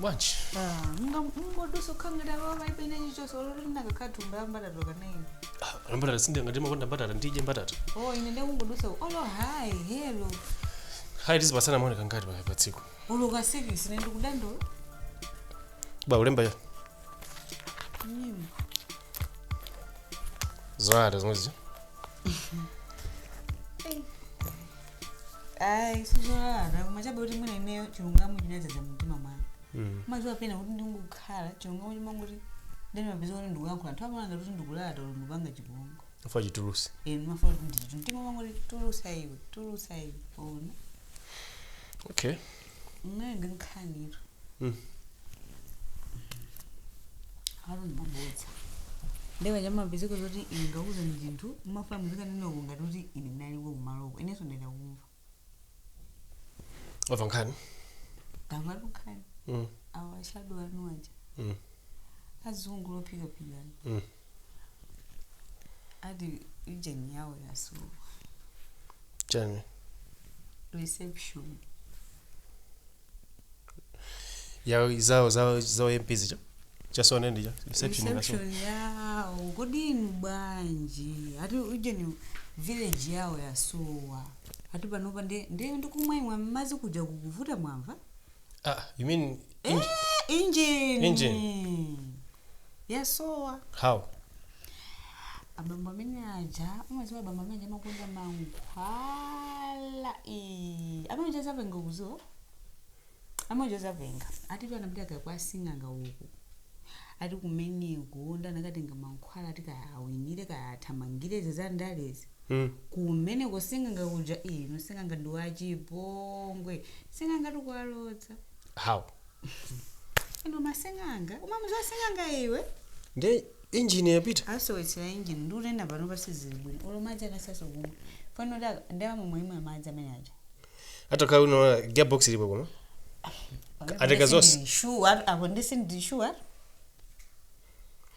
bwanji mungodusa ukhala ngati apawa palibe ine chilichonse oloti ndinakakhala thumba la mbatata ka naini Ah, mbatata sindinga ngati umakonda mbatata ndidye mbatata o ine ndikungodusa olo hayi helo hayi tizipasana maoneka ngati pa- pa tsiku olo ka sikisi ine ndikudandaula ba ulemba ya nyimbo zoyata zomwezi ayi sizolalata koma chabe kuti mwina ineyo chilungamo chinadzaza mumtima mwanga Mm. umaziwa pena kuti ndingokhala chilungamo chimangoti ndimapezeka kuti ndikuyankhula anthu amaona ngati ndikulalata olo ndikupanga chipongwe Chifukwa chitulusi. inu mumafuna kuti ndichitu mtima wangoti tulusa iwe tulusa iwe ona Okay. Imwe ndi nkhanitu. Mm. Aro ndi mabodza. Nde kachimapezeka zoti ine ndakuuzani chinthu mumafuna muzikanena uko ngati kuti ine ndinaliko kumaloko. Inenso ndayenera kumva. Wamva nkhani? Ndamva nkhani. Mm. Awashadwa anu aja. Mm. Azungu ophikaphika. Mm. ati injini yawo yasowa chani reception yawo zawo zawo zawo mp zija chasowa ndi cha reception ngaso reception yawo kodi inu bwanji ati ujeni Vellfire yawo yasowa ati panopa nde nde ndi kumwa imwa mazi kuja kukuvuta mwamva ah, you mean in, injini Injini. yasowa aa abambo amene aja umawaziwa abambo amene aja amakonda mankhwala Ii, amene aja azapenga kuziwa amene aja azapenga atitu anapita kaya kwa sing'anga uku ati kumeneko nde anakatenga mankhwala ati kaya awinire kaya athamangire izi za ndalezi mm. kumeneko sing'anga kuja inu sing'anga ndi wachipongwe sing'anga atikuwalodza aa inu masing'anga umamuziwa sing'anga iwe nde injini yapita asowetsera injini sikuyenda pano pasizili bwino olo madzi akusaso kumwa pano ndamwe mwa imwa madzi amene aja atakhala unaona gearbox ilipo koma Ateka zonse. shuwa apo ndisi ndi shuwa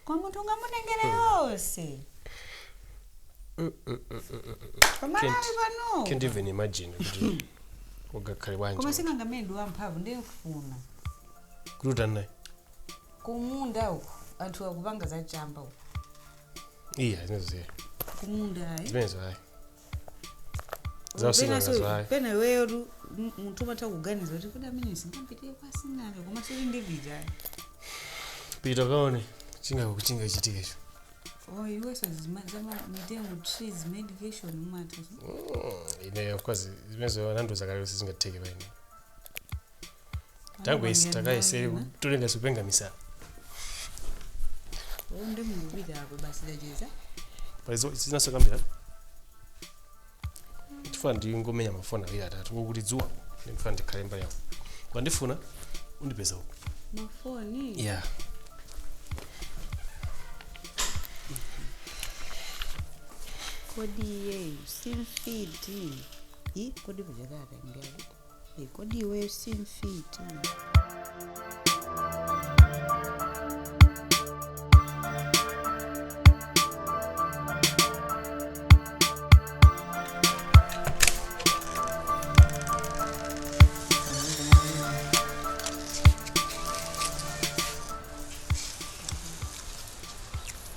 koma munthu ungamutengere yonse koma Can't- nawe pano can't even imagine kuti ungakhale koma bwanji sing'anga amene ndi wamphamvu ndimfuna kuti utandiyikeko kumunda uko anthu akupanga zachamba uko iya zimenezo siya kumunda ayi zimenezo ayi Za using'angazo, Pena- hayi. pena iweyo tu m- munthu umatha kuganiza kuti kuti amene sindipitira kwa sing'anga koma still ndipita, pita kaone chingako kuchinga chitikecho o iweso zima- zama mitengo trees medication umatha ineyo kwa zimezo anandiuza kale kuti sizingatheke paine takayese takayesere kutolenga zikupenga misala nde mukupita apo basi tacheza pali zina zokambira ndifuna ndingomenya mafoni awiri atatu kokuti dzuwa ndifuna ndikhale mbali yako wandifuna undipeza uko mafoni ya kodi iyeyu simfiti i kodi kuchekaka ndiyalika Eh, kodi iweyo si mfiti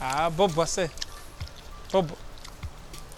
Ah, bobo ase. Bobo.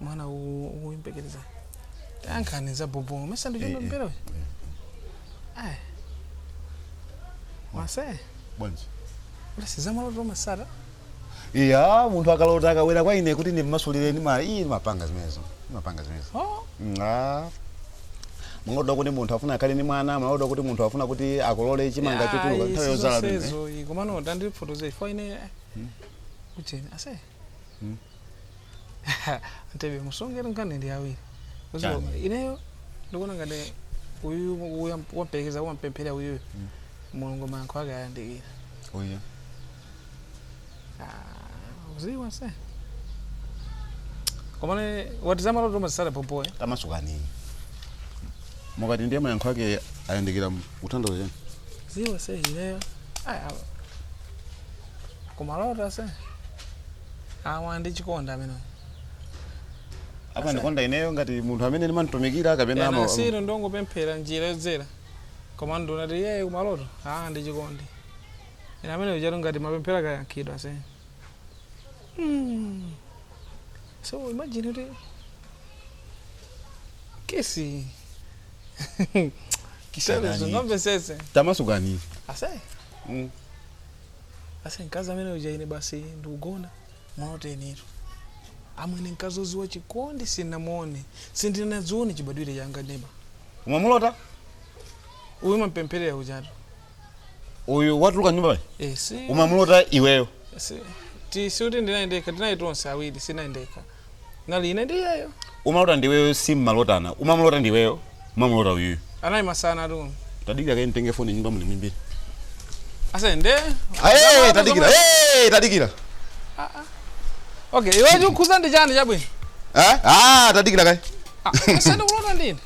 mwana ukuyembekereza tayankhani za bobo mesa ndi chomwe mpira uyu ayi ase bwanji ulesi zamaloto umatsata iya munthu akalota akabwera kwa ine kuti ndimmasulireni ayi ndimapanga zimenezo ndimapanga zimenezo oh Mm, ah. maloto kuti munthu afuna akhale ni mwana maloto kuti munthu afuna kuti akolole chimanga chotuluka nthawi yodzala pamene. komano tandifotoze ifo ine kucheni ase Ase musonkera nkhani ndi awiri. Kuzo Chani? ineyo ndikuona ngati uyu uyu wampelekeza wampemphera uyu Mulungu mayankho ake ayandikira. Uyu. Ah, uziwa ase. Komane wati zamaloto umatsata pompo eh. Tamasukani. Mukati ndiye mayankho ake ayandikira ukutanthauza chani? Ziwa ase ineyo. Ah, kumaloto ase awa ndi chikondi amene amandikonda ineyo ngati munthu amene ndimamtumikira kapena ama- anasilu ndungopemphera njira yodzera koma ndunati iyeyo kumaloto aa ndi chikondi ina amene ujatu ngati mapemphera akayankhidwa ase Mm. so imagine kuti kesi Kisha nani? sindikumvesesa tamasukani ase Mm. ase mkazi amene uja ine basi ndikugona malotenitu amwene mkazi oziwa chikondi sinamuone sindinachione chibadwire changa neba Umamulota? uyu mampempherera ujatu Uyu watuluka nyumba pali Eh, si Umamulota iweyo. si ti siuti ndinayendeka tinali tonse awiri sinayendeka nali ine ndi iyeyo umalota ndiweyo simmalotana umamulota ndiweyo umamulota uyuyu anali masana tu tadikira kaye ntenge foni nyumba muli mimbiri ase nde Aye, tadikira Hey, tadikira okay iwe chikhuza ndi chani chabwino Eh? Ah, tadikira kaye ase nde kulota ndine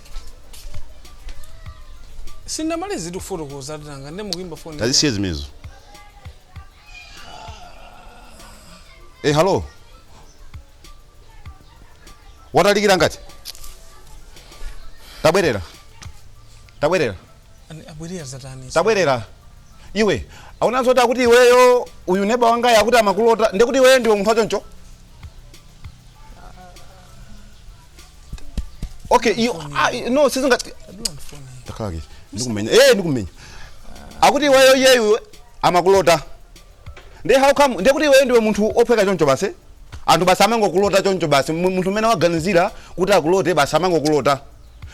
sindamalize kufotokoza nanga nde mukuimba foni tazisiye zimezo Eh, hello. Watalikira ngati? Tabwerera. Tabwerera. Ani- abwerera zatani Tabwerera. Iwe, akunena zoti akuti iweyo uyu neba wangayu akuti amakulota ndiye kuti iweyo ndiwe munthu wachoncho? okay iyo ah, iyo- no sizinga takaki ndikumenya eh ndikumenya akuti iweyo iyeyu amakulota nde how come nde kuti iweyo ndiwe munthu ophweka choncho basi anthu basi amangokulota choncho basi Mu- munthu umene waganizira kuti akulote basi amangokulota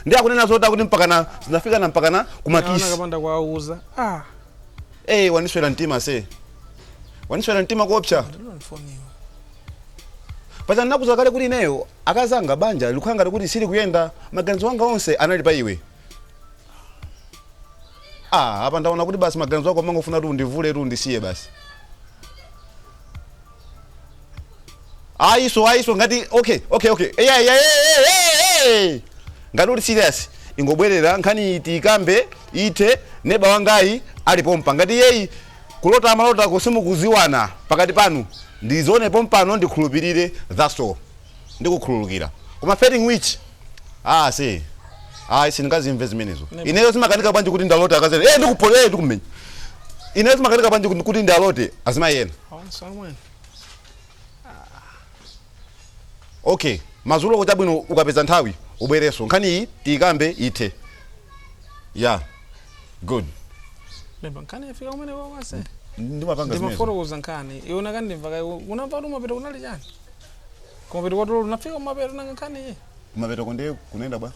nde akunena zoti akuti mpakana zinafikana mpakana Ana kumakisi kapanda kuwauza ah eh wandiswera mtima ase wandiswera mtima kuopsa ndilonifoniwa Paja ndinakuuza kale kuti ineyo akazi anga banja likukhala ngati kuti silikuyenda, maganizo anga onse anali pa iwe. Ah, apa ndaona kuti basi maganizo ako umangofuna kuti undivule kuti undisiye basi. Ayise ayise ngati okay okay okay. Eh eh eh eh. Ngati uli serious ingobwerera nkhaniyi tiikambe ithe neba wangayu ali pompa ngati iyeyu Kulota malotoko simukuziwana pakati pano ndizione pompano ndikhulupilire thats all ndikukhululukira koma failing which aa ase ayi sindingazimve zimenezo ineyo zimakanika bwanji kuti ndilote akazi ena ee ndikupho ee ndikumenya ineyo zimakanika bwanji kuti- kuti ndiwalote azimayi ena okay madzuloko chabwino ukapeza nthawi ubwerenso nkhani iyi tiyikambe ithe ya good Lemba nkhani yafika kumene ase. ndimapanga zimenezo Ndimafotokoza nkhani. Iona kani ndimva kaye unamva kumapeto kunali chani? Kumapeto kwatolo unafika kumapeto nanga nkhani iyi. kumapeto konde kunenda bwa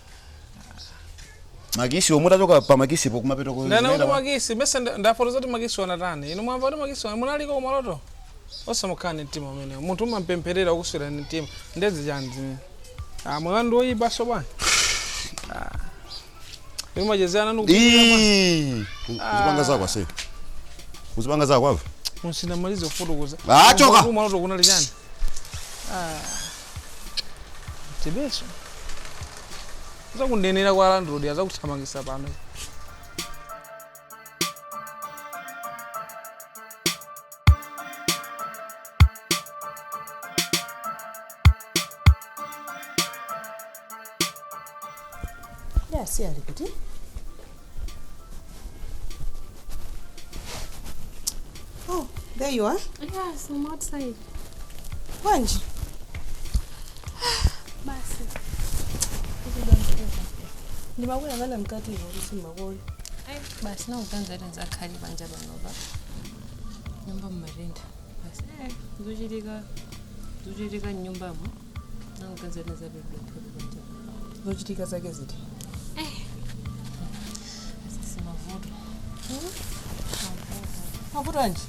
makisi omutachoka pa makisipo kumapeto ko- Ndana kunenda kuti bwa? makisi ndimayesa ndafotokoza kuti makisi wanatani. Inu mwamva kuti makisi wana munaliko kumaloto. Osamukani mtima umenewo. Munthu ukumpempherera ukuswera mtima. Ndezi chani zimene. Ah, mwana ndi oyipa so bwana. Ndimachezera nanu kupindira mwana. Ii, uzipanga zako ase uzipanga zako ase Musinamalize kufotokoza. Ah, choka. Kumaloto kunali chani? Ah. Tibeso. Ndizakunenera kwa landlord azakuthamangisa pano. Ya, uyu ali kuti. Oh, there you are. Yes, I'm outside. Bwanji. Basi. Ndimakuyang'ana mkati ivo kuti simakoni. basi nakuganiza kuti ndizakhale panja panopa nyumba mmatenda basi eh, zochitika zochitika mnyumbamo nakuganiza kuti ndizapepepele panja zochitika zake ziti asisi mavuto mavuto anji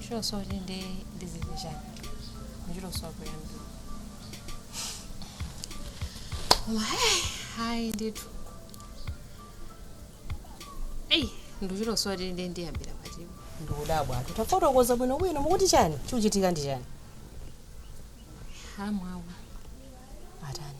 chilosochi ndi ndizichani ndichilosowa kuyambira Koma hey, hayi ndithu. Eyi, ndikuchita kusowa kuti ndiyambira pati. ndikudabwa anthu tafotokoza bwino bwino mukuti chani chikuchitika ndi chani Hamwawa. atani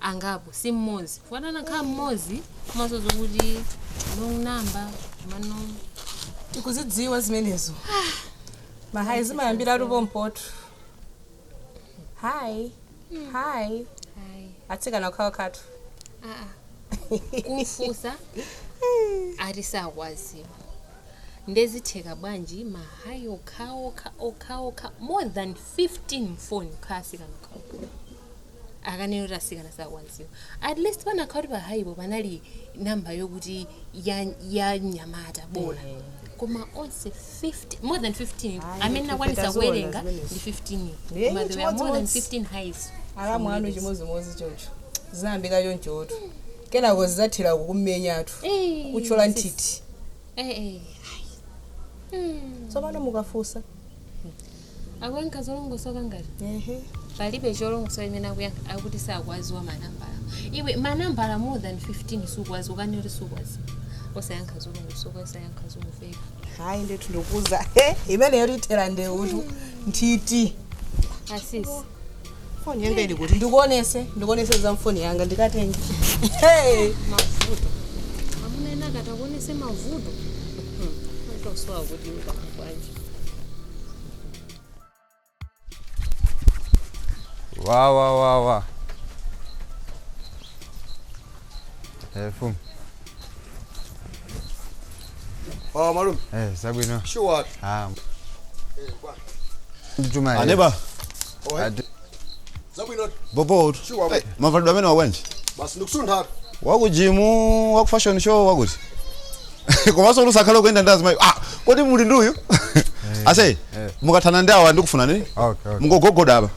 angapo si mmodzi chifukwa atakhala mmodzi komanso zokuti long number manu tikuzidziwa zimenezo mahayi zimayambira pompoto hayi hayi atsikana okhaokhatu kufusa ati sakwaziwa ndezitheka bwanji mahayi okhaokha okhaokha more than 15 mfoni atsikana okhaokha akunena kuti asikana sakwanziwa at least panakakhala kuti pahaipo panali namba yokuti ya, ya nyamata bola Eh. koma onse 50 more than 15 Ayi, amene ife nakwanisa taziona kuwerenga zimenezo. ndi 15 Eh, koma there were more than chimodzimodzi. 15 highs alamu anu chimodzimodzi choncho zinayambika chonchotu kenako zinathera kukumenyatu Eh, kutchola sis. nthithi eh, eh. tsopano mukafunsa akuyankha zolongosoka ngati Ehe. palibe cholongosoka chimene akuyankha akuti sakuwaziwa manambala iwe manambala more than 15 sukuwaziwa ukane kuti sukuwaziwa osayankha zolongosoka osayankha zomveka hayi ndithu ndikuuza imeneyo ithera ndeutu nthiti asisi foni yanga ili kuti ndikuonese ndikuonese za mfoni yanga ndikatenge Hey! amuna ena akatakuonetsa mavuto tosowa kuti ndakubwanje wawawawa Eh, fumu. Oh, malume. Eh, zabwino. Sure. Ah. Ndituma iye. Aneba. Oh, eh. Zabwino. Bobo. Sure. Hey, mavalidwe amene awanji. Basi ndikusuntha. Wakujimu, waku fashion show wakuti. Komanso musakhale kuenda ndi azimayi. Ah, kodi muli nduyu? Ase, mukathana ndi awa ndiukufuna nini? Okay, okay. Mungogogoda apa.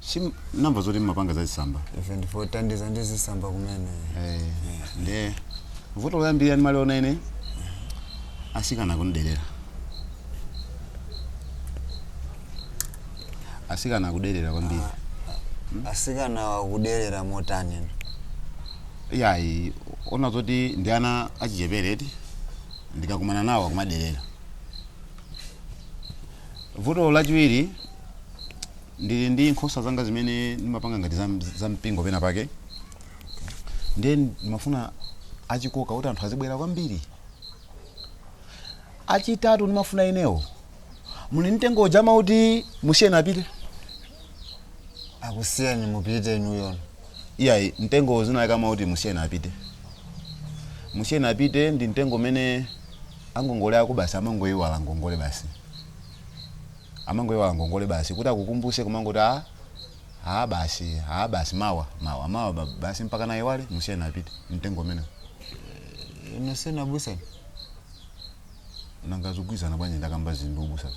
si ndamva zoti mmapanga zazisamba ife ndife othandiza ndi zisamba kumene Eh, nde vuto loyambirira limene ndimaliona ine asikana kundidelera asikana akudelera kwambiri asikana akudelera motani inu iyayi ona zoti ndi ana achichepere eti ndikakumana nawo akumadelera Vuto lachiwiri, ndili ndi nkhosa zanga zimene ndimapanga ngati za, za mpingo pena pake ndiye ndimafuna wachikoka kuti anthu azibwera kwambiri chachitatu ndimafuna inewo muli mtengo uja amauti musiyeni apite akusiyeni mupite inuyo iyayi mtengo dzina lake amauti musiyeni apite musiyeni apite ndi mtengo umene angongole ako basi amangoiwala ngongole basi amangoiwala ngongole basi kuti akukumbuse kumangoti a a basi a basi mawa mawa mawa ba- basi mpaka ndaiwala musiyeni apite mtengo umenewo ndinu abusatu nanga zikugwirizana bwanji ndakamba zinthu ubusazo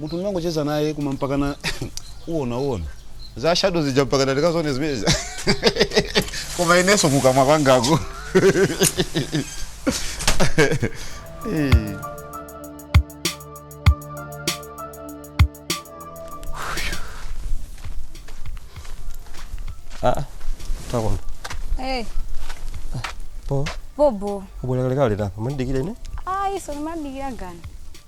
munthu ndimangocheza naye koma mpakana uona uona za shadow zija mpakana ndikazione zimenezi koma inenso kukamwa kwangaku Eh. Ah, takona. Hey, Po, bobo. Wabwera kalekale tapa. Mumandidikira ine. Ayi, so ndimadikira ndani?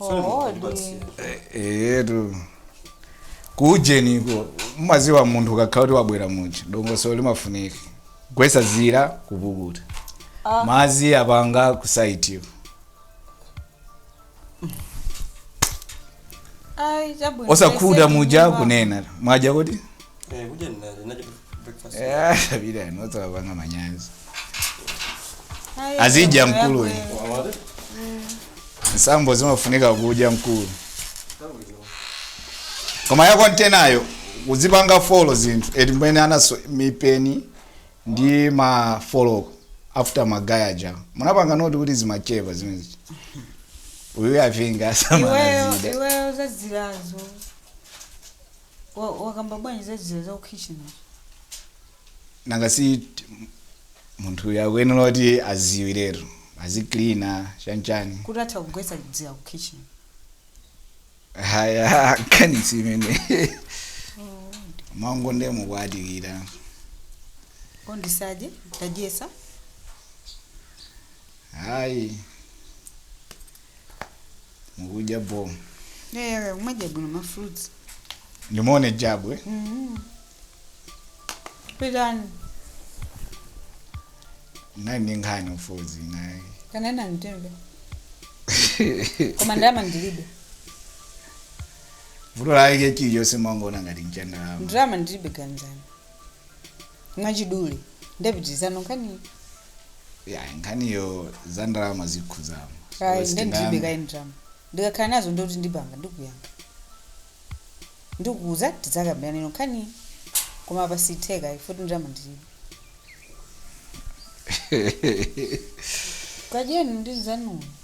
Oh, di- eyetu kuujeniko mumadziwa munthu ukakhala kuti wabwera muja dongosolo limafunika kugwetsa dzira kupukuta Ah. mazi apanga kusayitiwa Ai, chabwino. osakhuta Ese muja ndiwa. kunena mwadya kuti Eh, kudya ndinali ndinali breakfast. Eh, sabira notsoka kwanga manyazi Ayi, Azidya. mkulu uyu. Wawade? mwambo zimafunika kudya mkulu koma ya kontenayo uzipanga folo zinthu eti mmwenemo alinso mipeni ndi mafoloko after magaye aja munapanga note kuti zimachepa zimenezi uyu avinga iweyo asamanazida iweyo zadzilazo Wa- wakamba bwanji za dzira za kukhichini uja? nanga si t- m- munthu uyu akuyenera kuti adziwiretu aziklina chanchani kuti atha kugwetsa dzira ku kitchen haya nkhani si imene mwangoti nde mukwatikira ondisaje tagwetsa hayi mukudya bwino eya mumadya bwino ma fruits ndimuone jabwe pitani nali ndi nkhani m'modzi naye kanena mtembe koma ndalama ndilibe vuto lake chilichonse mwangoona ngati mchandalama ndalama ndilibe ganizani mwachidule nde pitirizani nkhaniyi ya nkhaniyo za ndalama zikukhuzamo ayi nde ndilibe kaye ndalama ndikakhala nazo nde kuti ndipanga ndikuyanga ndikuuza tidzakambirananso nkhaniyi koma apa sizitheka ayi futi ndalama ndilibe kadyeni ndi anzanuwo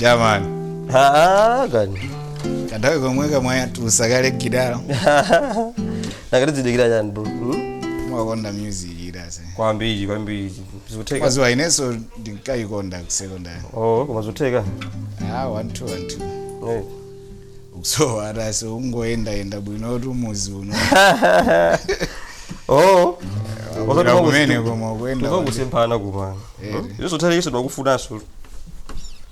jamani Ah, kani kanthawi komweka mwayitulusa kale gitala nakatizidikira chani bro hmm? mumakonda music eti ase kwambiri kwambiri zikutheka mwaziwa inenso ndinkayikonda ku secondary oh koma zikutheka ah one two one two Eh. ukusowa eti ase ukungoyendayenda bwinotu muzi uno oh Wabwera kumene koma ukuenda kuti- kusemphana kupana Eh. isothaire iso twakufunanso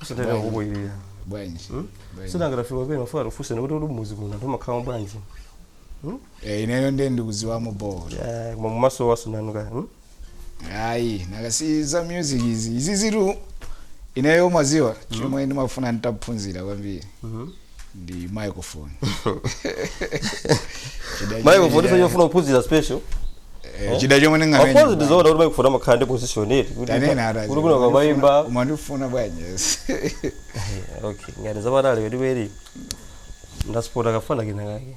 isothaire kukuirira bwanji Bwanji. sindinafike pena timafuna tifunsane kuti uli muzi muno anthu amakhala bwanji Eh, ineyo ndiye ndikuziwamo bora koma mumaso wasowatu kaya hmm? ayi nanga si za music izi izizitu ineyo mwaziwa chomwe ndimafuna nditaphunzira kwambiri ndi microphone Chida chomwe microphone ndinga- ndimafuna kuphunzira special eh, chida chomwe of course ndingamenye ndizoona kuti microphone amakhala ndi position eti kuti tanena atazi kuti kuno kamayimba mumandifuna bwanji yes okay ngati zamatali kwetikweni ndasipota kafana kinakake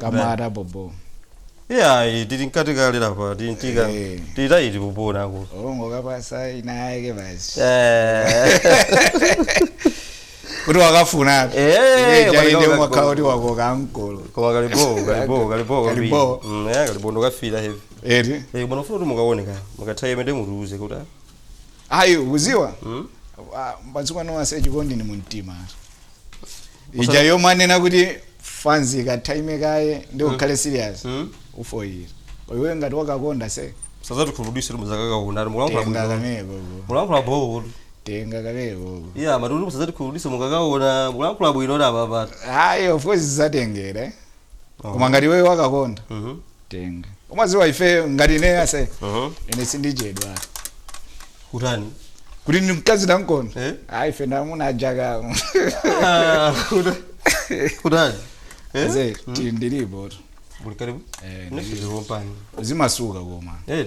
Kamata bobo. Iyayi tili mkati kale lapa tintika Eh. titayi tipupona ako. Ongo kapasa inayake basi. Eh. Kuti wakafuna. Eh, Iye jaile wakafuna. umakhala kuti wakoka ankolo. Koma kalibo kalibo kalibo kwambiri. Kalibo. Mm, eh, kalibo ndo kafira heavy. Eti. Eh, koma nofuna kuti mukaone ka. Mukathaye mende mutiuze kuti. ah, Ayi uziwa. Mm. Ah, Mbatsukwa no ase chikondi ni mumtima. ija yomwe anena kuti fanzi ikatame kaye ndi ukhale serious Mm. ufoyira iwe ngati wakakonda ase musazatikhumudwise kuti muzakaka kuna ati mulankhula tenga bwino kameko mulankhula bowo tenga kameko iya amati kuti musazatikhumudwise mukakaona mulankhula bwino ati apapati ayi of course zizatengera eh. koma ngati iweyo wakakonda Mhm. tenga umaziwa ife ngati ine ase Mhm. ine sindichedwa kutani kuti mkazi ndamkonda Eh? ayi ife ndi amuna ajakamu Ah, kuta- kutani Eh? ze ndilipo tu Muli karibu Eh, Nafika lompano. uzimasuka koma Eh,